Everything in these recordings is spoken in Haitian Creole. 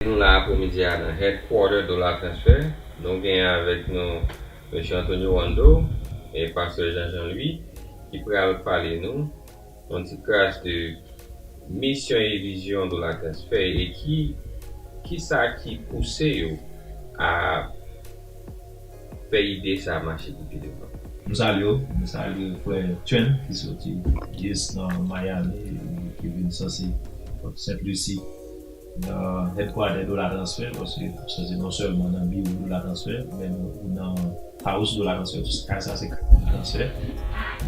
Nou la apremidi a nan Headquarter Dollar Transfer. Nou gen avèk nou Mesye Antonio Wando e Pastè Jean Jean Louis ki pral pale nou yon ti kras de misyon e vizyon Dollar Transfer e ki ki sa ki pouse yo a fè ide sa mache pi pi devan. Nou salye w, nou salye frè Chen ki soti jis nan Miami, ki vin sòsi Pòt Sent Lusi. nan Headquarter Dola Transfer paske sa se non sèlman nan biwo Dola Transfer men ou nan House Dola Transfer tou, kay sa se kay Dola Transfer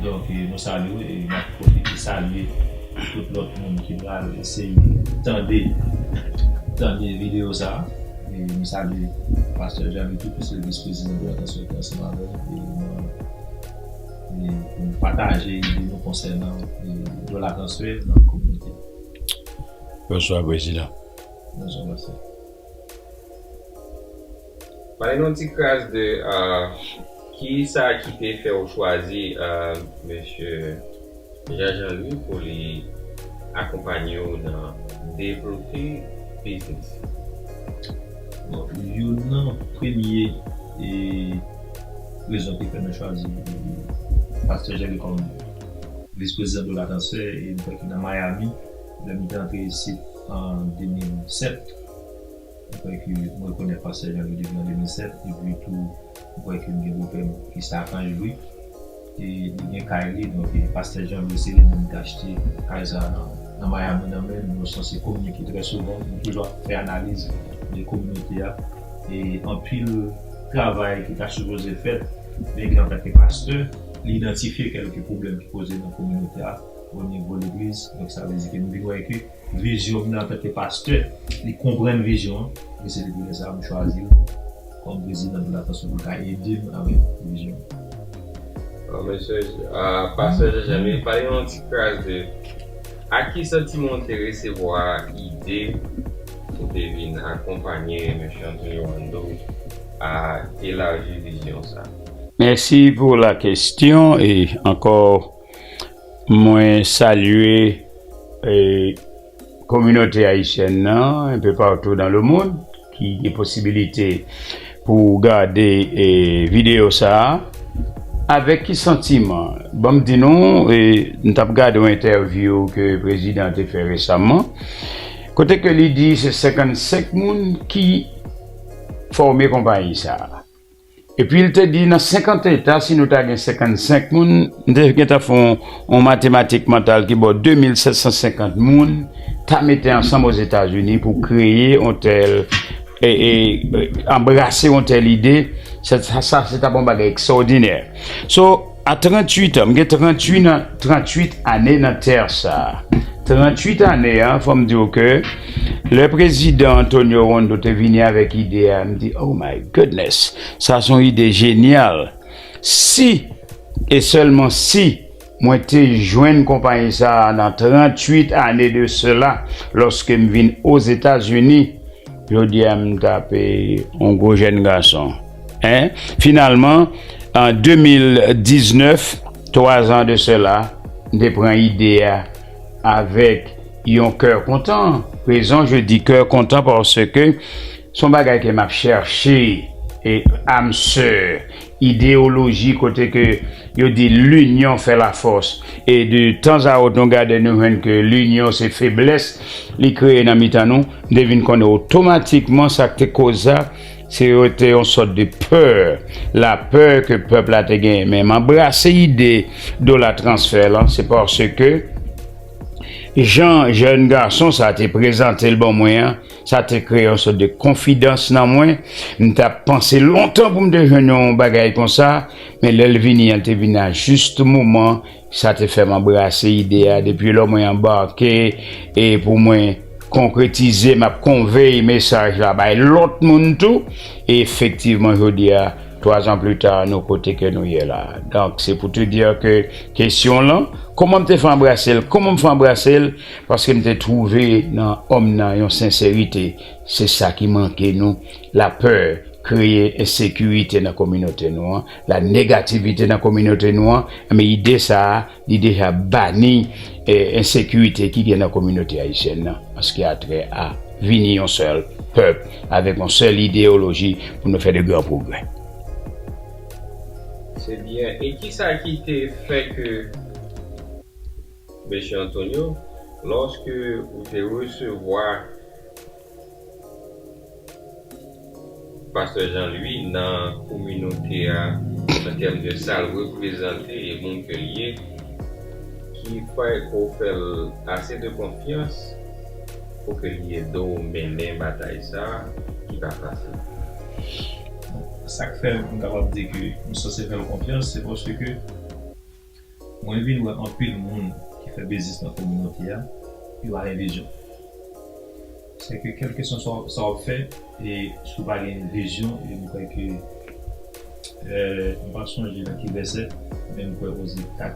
donk nou salye w e nap pwofite salye tout lòt moun ki pral eseye tande tande videyo sa e nou salye Pastè Djammy tou ki se Vis Prezidan Dola Transfer ki ansanm avè m e nan e pou nou pataje ide nou konsènan Dola Transfer nan kominote. Bonswa prezidan. Bonswa mesi. Bay nou ti kras de ki sa ki te fè ou chwazi mesye Jean Jean Louis pou li akonpanye ou nan devlope biznis ou? Bon, youn nan premye rezon ki fè mwen chwazi Pastè Jean Louis kòm. Vis prezidan Tola Tansè e m kwè ki nan Miami lè m te antre isit an 2007. M kwè ke m rekonèt pastè Janvier depi an 2007 epi tou m kwè ke m gen bopè m ki se Akanj Lwi e li gen kay li donk pastè Janvier se li menm ki achte kay sa nan Miami nan men m. Nou sanse kominike trè souvan, nou toujou ap fè analiz de kominote a e anpil travay ki ta sipoze fèt men ke antanke pastè. li idantifye kèlke pwoblèm ki poze nan kominote a o nivo legliz. Donk sa vle di ke m vin wè ke vizyon m nan antanke pastè, li konprann vizyon an e se depi lè sa a m chwazi l kòm prezidan pou la fason pou l ka ede m avèk vizyon an. Bon mesye, pastè Jean Jaime, pale nou yon ti kras de ak ki santiman w te resevwa ide pou te vin akonpanye Mesye Antonio Wando a elaji vizyon sa. Mèsi pou la kestyon e ankò mwen salye kominote ayisyèn nan enpe patou dan le mond ki gen posibilite pou gade videyo sa a avèk ki santiman ban m di nou m t ap gade yon entèvyou ke prezidan an te fè resaman kote ke li di se 55 moun ki fòme konpayi sa a. Epi l te di, nan senkant eta, si nou ta gen senkann-senk moun, m te gentan fè yon matematik mantal ki bò de mil sèt san senkant moun ta mete ansanm Ozetazini pou kreye yon tèl, anbrase yon tèl ide, sa se t ap yon bagay ekstrawòdinè. So. A 38 an, m gen 38 nan, 38 ane nan tè sa a. 38 ane an, fò m di w ke lè Prezidan Antonio Hondo te vini avèk ide a, m di, Oh my goodness! Sa se yon ide jenyal! Si, e sèlman si, mwen te jwenn konpayi sa a nan 38 ane de sela, lòske m vin Ozetazini, jodi a m ta pe yon gwo jèn gason. Hein? Finalman, an 2019, 3 zan de sela, m te pran ide a avèk yon kè kontan. Rezon je di kè kontan paske s on bagay ke m ap chèche e âme sœur, ideyoloji kote ke yo di l'union fait la force e de tanzawòt nou gade nou jwenn ke l'union se feblès li kreye nan mitan nou. M te vin konnen otomatikman sa k te koz sa Se rete yon sòt de pè, la pè ke pèp la te genyen. Men m anbrase ide dola transfè lan, se paske jan jèn gason sa te prezante l ban mwen an, sa te kreye yon sòt de konfidans nan mwen. M t ap panse lontan pou m te jwenn yon bagay konsa, men lè l vini an, l te vini a jis moman. Sa te fè m anbrase ide a depi lò mwen anbake e pou mwen konkretize m ap konvey mesaj la bay lòt moun tou e efektivman jodi a twazan plita nou kote ke nou ye la donk se pou te dir ke kesyon w lan kòman m te fè anbrase l kòman m fè anbrase l paske m te twouve nan òm nan yon senserite se sa ki manke nou lapè kreye ensekirite nan kominote nou an. La negativite nan kominote nou an, enben ide sa a li deja bani ensekirite ki gen nan kominote ayisyèn nan an se ki a trè a vini yon sèl pèp avèk yon sèl ideyoloji pou nou fè de gran pwogrè. Se byen, e ki sa ki te fè ke Mesye Antonio, lòske ou te resevwa Pastè Jean Louis nan kominote a an tèm de sal reprezante e moun ke l ye ki kwè ke w fè l ase de konfyans pou ke li ede w mennen batay sa ki pa fasil. Sa k fè m kapab di ke m sanse fè l konfyans se paske ke. Mwen vin wè anpil moun ki fè biznis nan kominote a, yo pa gen vizyon. Sèke kèlkeswa sa wap fè e si w pa gen vizyon e m kwè ke m pa sonje nan ki vèsè men m kwè Oze 4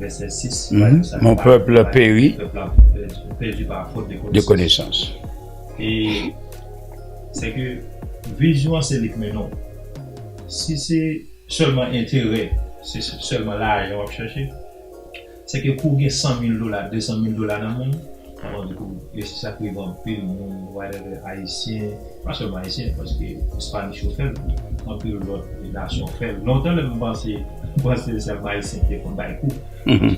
vèsè 6 pale de sa. Mon peuple peri de konesans. E sèke vizyon an se li k mennen w. Si se. Sèlman enterè, se sèlman lajan wap chèche, se ke kou gen 100 mil dola, 200 mil dola nan men w, wap anvi pou resi sakrive anpil moun whatever ayisyen, pa sèlman ayisyen paske spanish yo fèl tou, anpil lòt nasyon fèl, lontan lè m panse panse sèlman ayisyen te konn bay kou,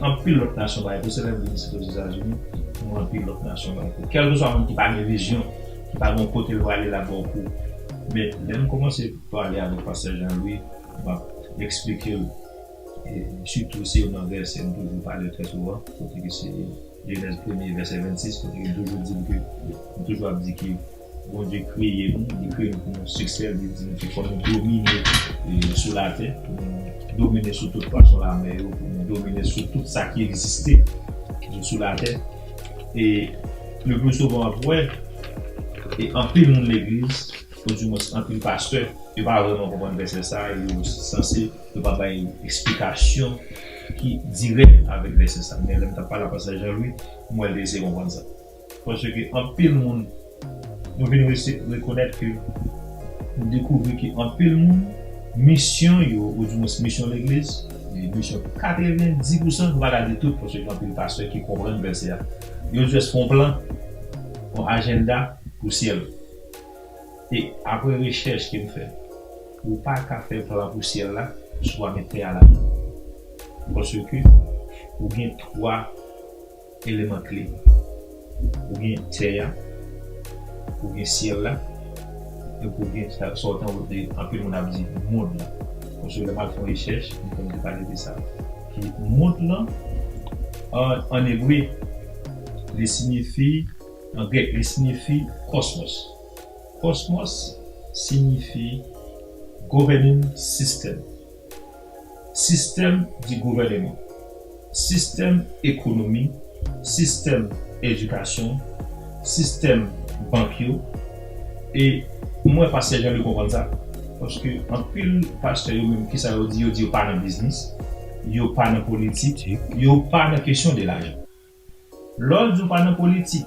anpil lòt nasyon bay kou, se lè m vin isit ozetazini m wè anpil lòt nasyon bay kou, kèlkeswa moun ki pa gen vizyon, ki pa gen yon kote l prale lap ba w kou, men lè m kòmanse. Pale avèk pastè Jean Louis map eksplikel sitou se youn nan vèsè m toujou pale trè souvan kote ke se jenèz premye vèsè 26 kote ke m toujou dil ke m toujou ap di ke Bondye kreye nou li kreye nou pou nou siksè li di nou ke fò nou domine sou latè pou nou domine sou tout pwason lamè yo pou nou domine sou tout sa ki egziste sou latè e le pli souvan wap wè anpil moun legliz Ou di mwen anpil pastè yo pa vrèman konprann vèsè sa a e yo sanse yo pa bay esplikasyon ki dirèk avèk vèsè sa a. Men lè m t ap pale ak pastè Jean Louis m wè l te eseye konprann sa. Paske anpil moun nou vin resi rekonèt ke nou dekouvri ke anpil moun misyon yo ou di mwens misyon legliz e misyon 90 pousan nou pa ka di tout paske gen anpil pastè ki konprann vèsè a yo jès fè yon plan yon ajenda pou syèl. E apre rechèch ke m fè, ou pa ka fè plan pou syèl la si w pa met tè a ladan l. Paske ou gen 3 eleman kle. Ou gen tè a, ou gen syèl la, epi ou gen sa w tankou te anpil moun ap di mond lan. Paske lè m al fè yon rechèch, m tonbe pale de sa. Ki mond lan, an ebre, li sinyifi. An grèk li sinifi kosmos. Kosmos sinifi governing system, sistèm di gouvèneman, sistèm ekonomi, sistèm edikasyon, sistèm bank yo e mwen pa sèjan de konprann sa paske anpil pastè yo menm kisa yo di yo di yo pa nan biznis, yo pa nan politik, yo pa nan kesyon de lajan. Lè w di w pa nan politik,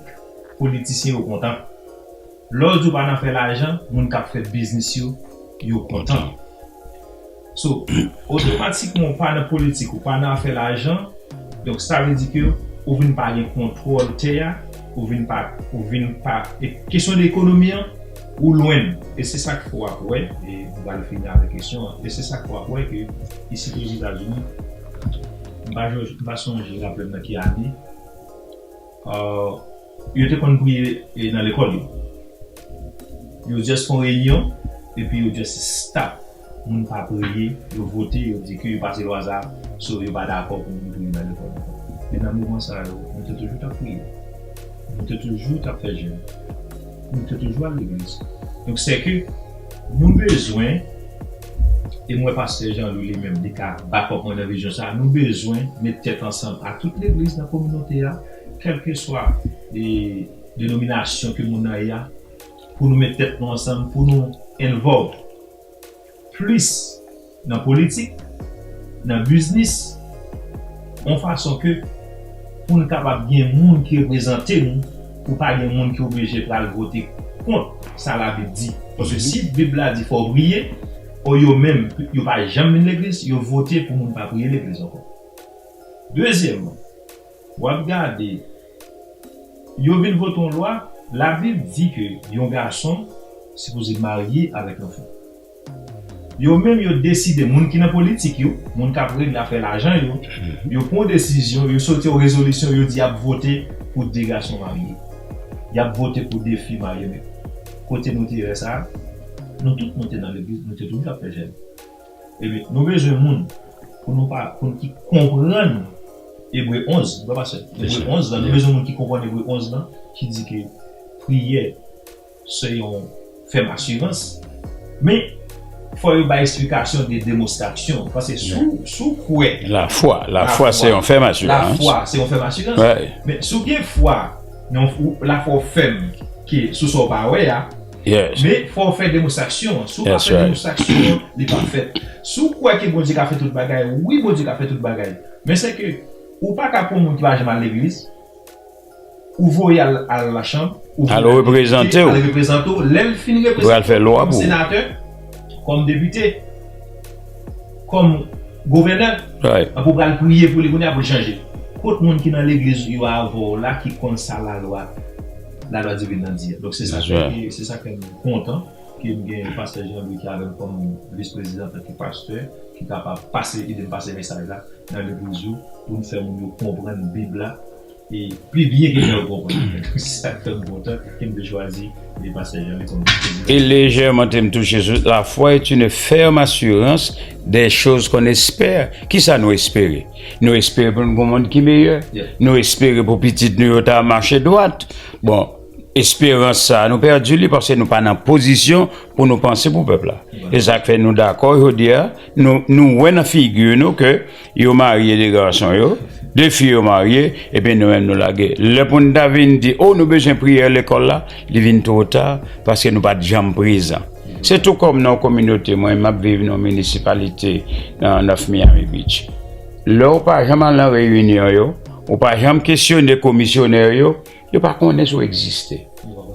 politisyen yo kontan. Lè w di w pa nan fè lajan, moun k ap fè biznis yo, yo kontan. So, otomatikman ou pa nan politik, ou pa nan afè lajan, donk sa vle di ke ou vin pa gen kontwòl tè a, ou vin pa, ou vin pa, e kesyon de ekonomi an, ou lwen l. E se sa k fè w ap wè, e m pral fini avèk kesyon an, e se sa k fè w ap wè ke isit Ozetazini, M pa joj, m pa sonje raplem nan ki ane euh yo te konn priye e nan lekòl yo. Yo just fon reyinyon epi yo just stop moun pa priye, yo vote, yo di ke yo pase lwa sa, so yo pa dakò pou moun priye nan lekòl ankò. Men nan moman sa yo, nou te toujou tap priye. Nou te toujou tap fè jèn. Nou te toujou al legliz. Donk sè ke nou bezwen. E mwen pastè Jean Louis li menm li ka back up mwen nan vizyon sa a. Nou bezwen met tèt ansanm ak tout legliz nan kominote a, kèlkeswa denominasyon ke moun nan ye a, pou nou met tèt nou ansanm, pou nou involve plis nan politik, nan biznis, yon fason ke pou nou kapab gen moun ki reprezante nou. Pou pa gen moun ki oblije pral vote kont sa labib di. Paske si bib la di fòw priye, o yo menm yo pa janm vin legliz, yo vote pou moun pa priye legliz ankò. Dezyèmman, wap gade yo vin vote yon lwa, labib di ke yon gason sipoze marye avèk yon fi. Yo menm yo deside, moun ki nan politik yo, moun k ap rele nan afè lajan yo, yo pran yon desizyon, yo soti yon rezolisyon, yo di y ap vote pou 2 gason marye. Y ap vote pou 2 fi marye. Men, kote nou te lè sa a? Nou tout nou te nan legliz, nou te toujou ap fè jèn. Ebyen, nou bezwen moun pou nou pa, pou nou ki konprann Ebre 11, frè Pasteur, Ebre 11 lan, nou bezwen moun ki konprann Ebre 11 lan, ki di ke priyè. Se yon fèm asirans. Men, fò yo bay esplikasyon de demostraksyon. Paske si w kwè. Lafwa. Lafwa se yon fèm asirans. Lafwa se yon fèm asirans. Wi. Men, si w gen fwa, lafwa w fèm ke sou sa w pa wè a. Yes. Men, fò w fè demostraksyon an. That's right. Si w pa fè demostraksyon an, li pa fèt. Si w kwè ke Bondye ka fè tout bagay, wi Bondye ka fè tout bagay. Men sèke ou pa ka pou yon moun ki pa janm al legliz. Ou voye al al la chanm. Al reprezante w. Al reprezante w. Lè l fin reprezante w. Ou al fè lwa pou ou. Kòm senatè. Kòm depite. Kòm gouvènè. Right. Ape w pral priye pou li kounye a pou l chanje. Kot moun ki nan legliz ou yo avè w la ki konn sa lalwa lalwa divin nan di a. Donk se sa ki. That's right. Se sa fè m kontan ke m gen pastè Jean Louis ki avè m kòm vis prezidan antanke pastè ki kapab pase ede m pase mesaj la nan legliz yo pou n fè moun yo konprann bib la. E pi byen ke jan ou konprann. Se sa k fè m kontan ke m te chwazi pastè Jeanly kòm prezidan. E lejè mante m touche sou la fwa est une ferme assurance des choses qu'on espère. Kisa nou espere? Nou espere pou n gen yon mond ki meyè. Nou espere pou pitit nou yo ta mache dwat. Bon, esperans sa a nou pèdi li paske nou pa nan pozisyon pou nou panse pou pèp la. Se sa k fè nou dakò jodi a, nou wè nan figi nou ke Yo marye 2 gason yo, 2 fi yo marye epi nou menm nou lage. Lè pou n ta vin di oh nou bezwen priyè lekòl la, li vin two ta paske nou pat janm prezan. Se tou kòm nan yon kominote, mwen map viv nan yon minisipalite nan North Miami Beach. Lè ou pa janm al nan reyinyon yo, ou pa janm kesyone komisyonè yo, Yo pa konnen si w egziste.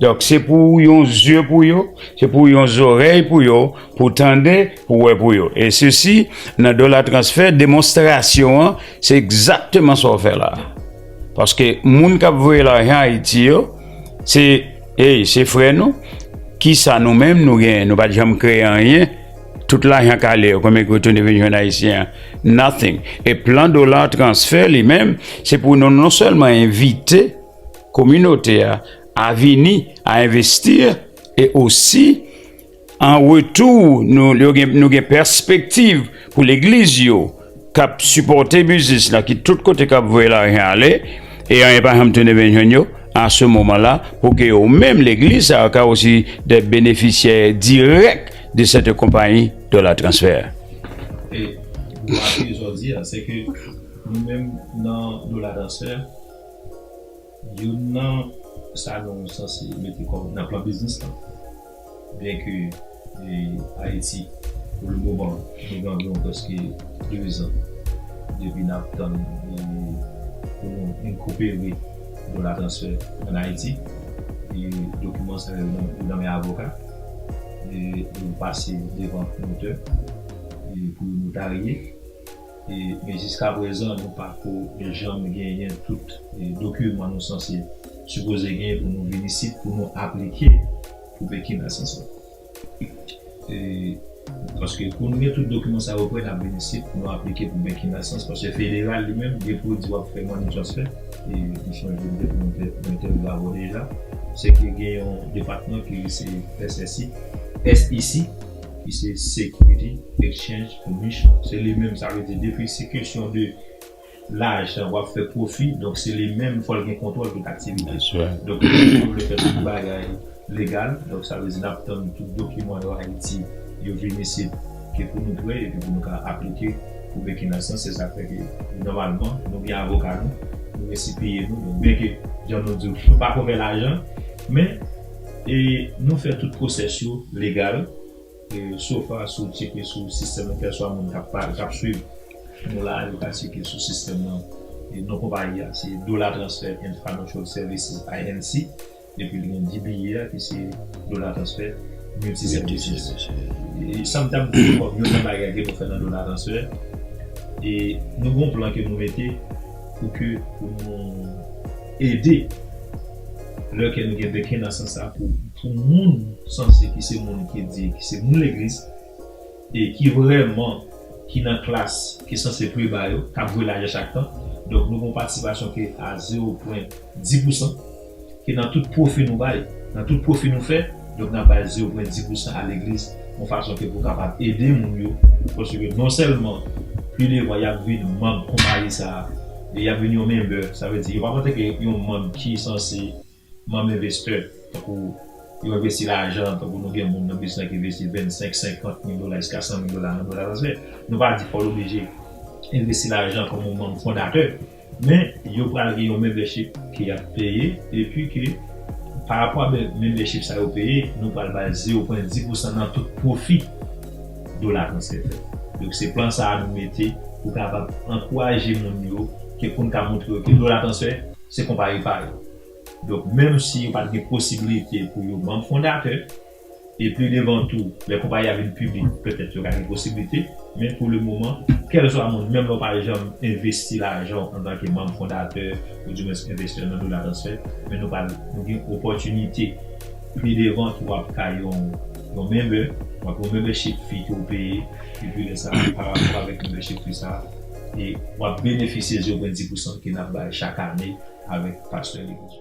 Donk, se pou w yon zye pou yo, se pou w yon zorèy pou yo, pou w tande, pou w wè pou yo. E sesi, nan Dola Transfè, demonstrasyon an, se egzakteman sa w fè la a. Paske moun k ap voye lajan Ayiti yo, se, ey, se frè nou, ki sa nou menm nou genyen? Nou pa t janm kreye anyen. Tout lajan kale yo konbyen ki retounen vin jwenn ayisyen an? Nothing. E plan dollar transfer li menm se pou nou non sèlman envite kominote a a vini a envestir e osi an retou nou gen pèspektiv pou legliz yo. kap sipòte biznis la ki tout kote kap voye lajan ale e anyen pa janm tounen vin jwenn yo a se moman la pou ke yo menm legliz sa yo ka osi de benefisyè dirèk de sete konpayi dola transfè a. E sa ke w di a se ke nou menm nan dola transfè. Youn nan sa nou sanse mete kòm nan plan biznis lan, byen ke Ayiti pou le moman nou gen anviwon prèske 2 zan depi n ap tann pou nou inkopere dola transfè ann Ayiti, dokiman sa yo nan men avoka, yo pase devan notè pou yo notarye. Men jiska prezan nou pako janm genyen tout dokiman nou sanse sipoze genyen pou nou vin isit pou nou aplike pou Pekin nan sans lan. Paske pou nou gen tout dokiman sa yo pre nap vin isit pou nou aplike pou Pekin nan sans paske federal li menm depi ou di wap fè money transfer e m sonje m te konn fè yon entèvyou avè w deja se ke gen yon depatman ki resi SSI, SEC. ki se Security Exchange Commission se li menm sa vle di depi se kesyon de lajan wap fè pwofi donk se li menm fòl gen kontwòl tout aktivite donk nou menm nou vle fè tout bagay legal donk sa vle di nap tann tout dokiman yo Ayiti yo vin isit ke pou nou prè epi pou nou ka aplike pou Burkina san se sa fè ke nòmalman nou gen avoka nou nou resi peye nou donk byenke jan nou diw nou pako fè lajan men. E nou fè tout pwosès yo legal e so fa si w tyeke sou sistèm nan kèlswa moun kap pale kap swiv nou la a li pa tyeke sou sistèm nan e non konpayi a se Dollar Transfer and Financial Services, INC, epi li gen DBA a ki se Dollar Transfer Multi Services. E sa m tap di kòm youn nan bagay ke nou fè nan Dollar Transfer e nou gen yon plan ke nou mete pou ke pou nou ede. Lè kè n gen beken nan sans sa pou moun sanse ki se moun ki di ki se moun legliz e ki vrèman ki nan klas ki sanse preba yo k ap vwe lajan chak tan donk nou gen yon patisipasyon ki a zewo pwen di pousan ke nan tout pwofi nou bay nan tout pwofi nou fè. Donk n ap bay zewo pwen di pousan a legliz yon fason ke pou kapab ede moun yo paske ke non sèlman pi devan y ap vin manb konpayi sa a e y ap vin yon menbè sa vle di yo pa p antanke yon manb ki sanse manb envestè tankou yo envesti lajan tankou nou gen moun nan biznis la ki envesti 25 50 mil dola jiska 100 mil dola nan dwa transfè nou pa di fò l oblije envesti lajan kòm yon manb fondatè. Men yo pral gen yon membership ke yap peye epi ke pa rapò a membership sa yo peye nou pral bay zero pwen di pousan nan tout pwofi dola transfè fèt. Donk se plan sa a nou mete pou kapab ankouraje moun yo ke poun ka montre yo ke dola transfè se konpayi pa yo. Donk menm si yo pat gen posibilite pou yo manb fondatè. E pli devan tou, lè konpayi a vin piblik, pètèt yo ka gen posiblite, men pou le moman, kèlswa moun, menm lè w pa janm envesti lajan w antanke manm fondatè oudiwens envestè nan Dola Transfè, men nou pral, nou gen opòtinite pli devan ki w ap ka yon, yon member, w ap yon membership fee ke w peye, epi lè sa a, parapò avèk membership fee sa a, e w ap benefisye zewopwen di pousan ke n ap bay chak ane avèk Pastè Legros.